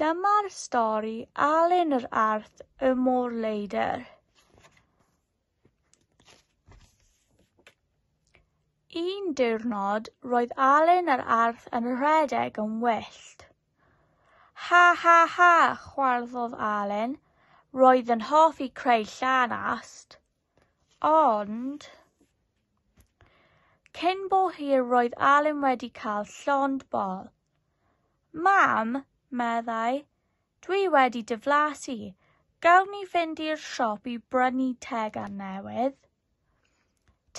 Dyma'r stori Alun yr Arth y Môr Leidr. Un diwrnod, roedd Alun yr Arth yn rhedeg yn wyllt. Ha ha ha, chwarddodd Alun, roedd yn hoffi creu llanast. Ond, cyn bo hir roedd Alun wedi cael llond bol. Mam, meddai, dwi wedi diflasu, gawn ni fynd i'r siop i brynu tegan newydd?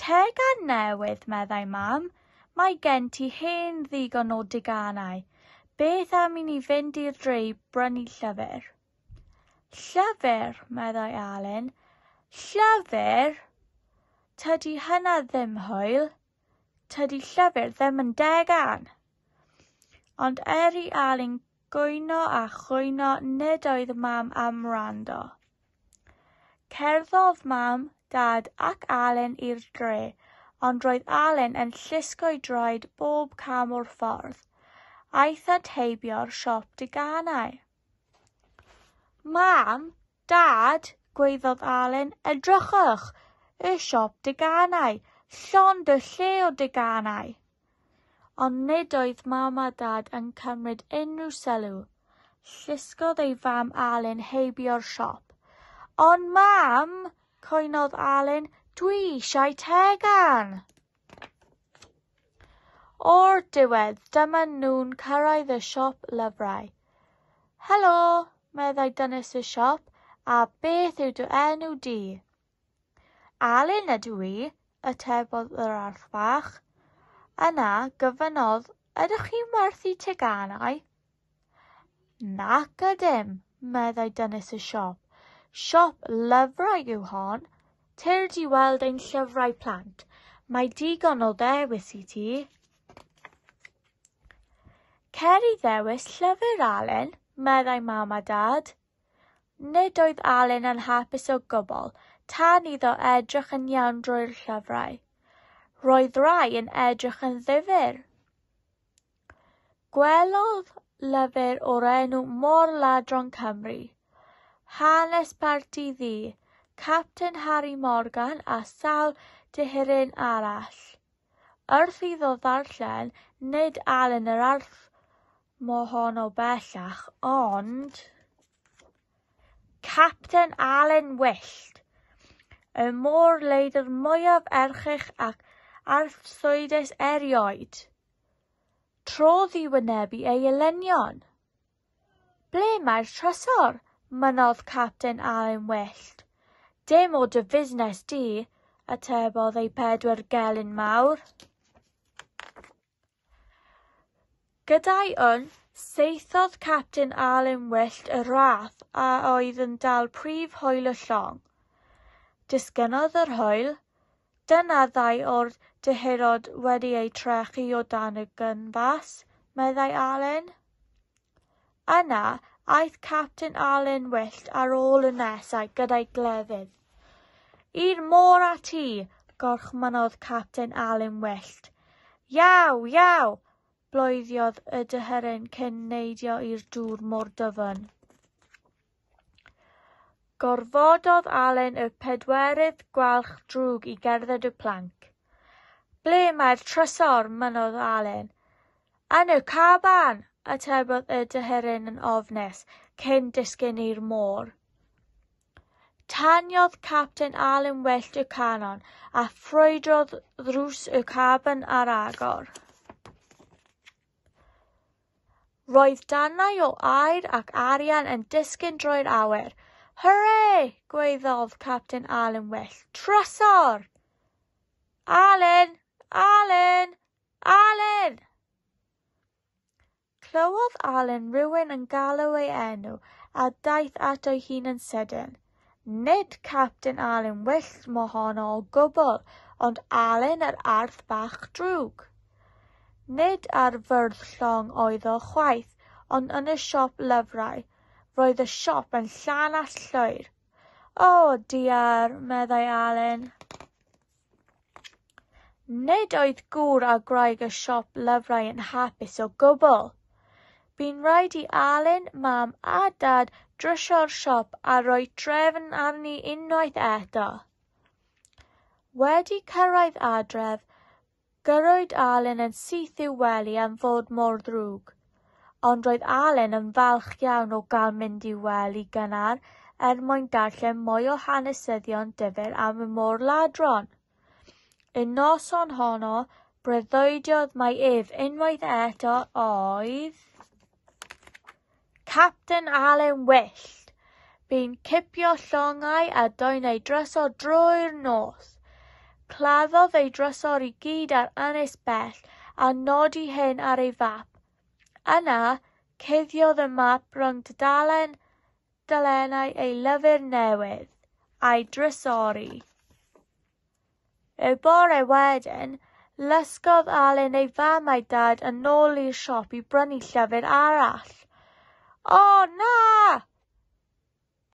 Tegan newydd, meddai Mam, mae gen ti hen ddigon o deganau, beth am i ni fynd i'r dre i brynu llyfr? Llyfr, meddai Alun. Llyfr? Tydi hynna ddim hwyl. Tydi llyfr ddim yn degan. Ond er i Alun gwyno a chwyno nid oedd mam am rando. Cerddodd mam, dad ac Alun i'r dre, ond roedd Alun yn llusgo'i droed bob cam o'r ffordd. Aeth at heibio'r siop deganau. Mam, Dad, gwaeddodd Alun, edrychwch, y siop deganau, llond y lle o deganau. Ond nid oedd Mam a Dad yn cymryd unrhyw sylw. Llusgodd ei fam Alun heibio'r siop. Ond Mam, cwynodd Alun, dwi eisiau tegan! O'r diwedd, dyma nhw'n cyrraedd y siop lyfrau. Helo, meddai dynes y siop, a beth yw dy enw di? Alun ydw i, atebodd yr arth fach. Yna, gofynnodd, ydych chi'n werthu teganau? Nac ydym, meddai dynes y siop. Siop lyfrau yw hon. Tyrd i weld ein llyfrau plant. Mae digon o ddewis i ti. Cer i ddewis llyfr, Alun, meddai mam a dad. Nid oedd Alun yn hapus o gwbl tan iddo edrych yn iawn drwy'r llyfrau. Roedd rai yn edrych yn ddifyr. Gwelodd lyfr o'r enw Mor-ladron Cymru, hanes parti ddu, Capten Harri Morgan a sawl deheurin arall. Wrth iddo ddarllen, nid Alun yr Arth mohono bellach, ond Capten Alun Wyllt, y môr-leidr mwyaf erchyll ac arswydus erioed. Trodd i wynebu ei elynion. Ble mae'r trysor? mynnodd Capten Alun Wyllt. Dim o dy fusnes di, atebodd ei pedwar gelyn mawr. Gyda'i wn, seithodd Capten Alun Wyllt y rath a oedd yn dal prif hwyl y llong. Disgynnodd yr hwyl, Dyna ddau o'r dyheadod wedi eu trechu o dan y gynfas, meddai Alun. Yna, aeth Capten Alun Wyllt ar ôl y nesau gyda'i glefydd. I'r môr a ti! gorchmynodd Capten Alun Wyllt. Iaw! Iaw! bloeddiodd y dyheren cyn neidio i'r dŵr mor dyfn. Gorfododd Allen y pedwerydd gwalch drwg i gerdded y planc. Ble mae'r trysor? mynnodd Allen. Yn y caban! atebodd y dyheryn yn ofnus, cyn disgyn i'r môr. Taniodd Capten Allen wellt y canon a ffrwydrodd ddrws y caban ar agor. Roedd darnau o aer ac arian yn disgyn drwy'r awyr. Hwre! gwaeddodd Capten Alun Well. Trysor! Alun! Alun! Alun! Clywodd Alun rhywun yn galw ei enw a daeth ato'i hun yn sydyn. Nid Capten Alun wyllt mohono o gwbl, ond Alun yr Arth bach drwg. Nid ar fwrdd llong oedd o chwaith, ond yn y siop lyfrau. Roedd y siop yn llanast llwyr. O, diar, meddai Alun. Nid oedd gŵr a gwraig y siop lyfrau yn hapus o gwbl. Bu'n rhaid i Alun, Mam a Dad drysio'r siop a rhoi trefn arni unwaith eto. Wedi cyrraedd adref, Gyrrwyd Alun yn syth i'w wely am fod mor ddrwg. Ond roedd Alun yn falch iawn o gael mynd i'w wely gynnar er mwyn darllen mwy o hanesyddion difyr am y môr-ladron. Y noson honno, breuddwydiodd mai ef unwaith eto oedd Capten Alun Wyllt, bu'n cipio llongau a dwyn ei drysor drwy'r nos. Claddodd ei drysor i gyd ar ynys bell a nodi hyn ar ei fap. Yna, cuddiodd y map rhwng dudalen dalennau ei lyfr newydd, a'i drysori. Y bore wedyn, lysgodd Alun ei fam a'i dad yn ôl i'r siop i brynu llyfr arall. O, na!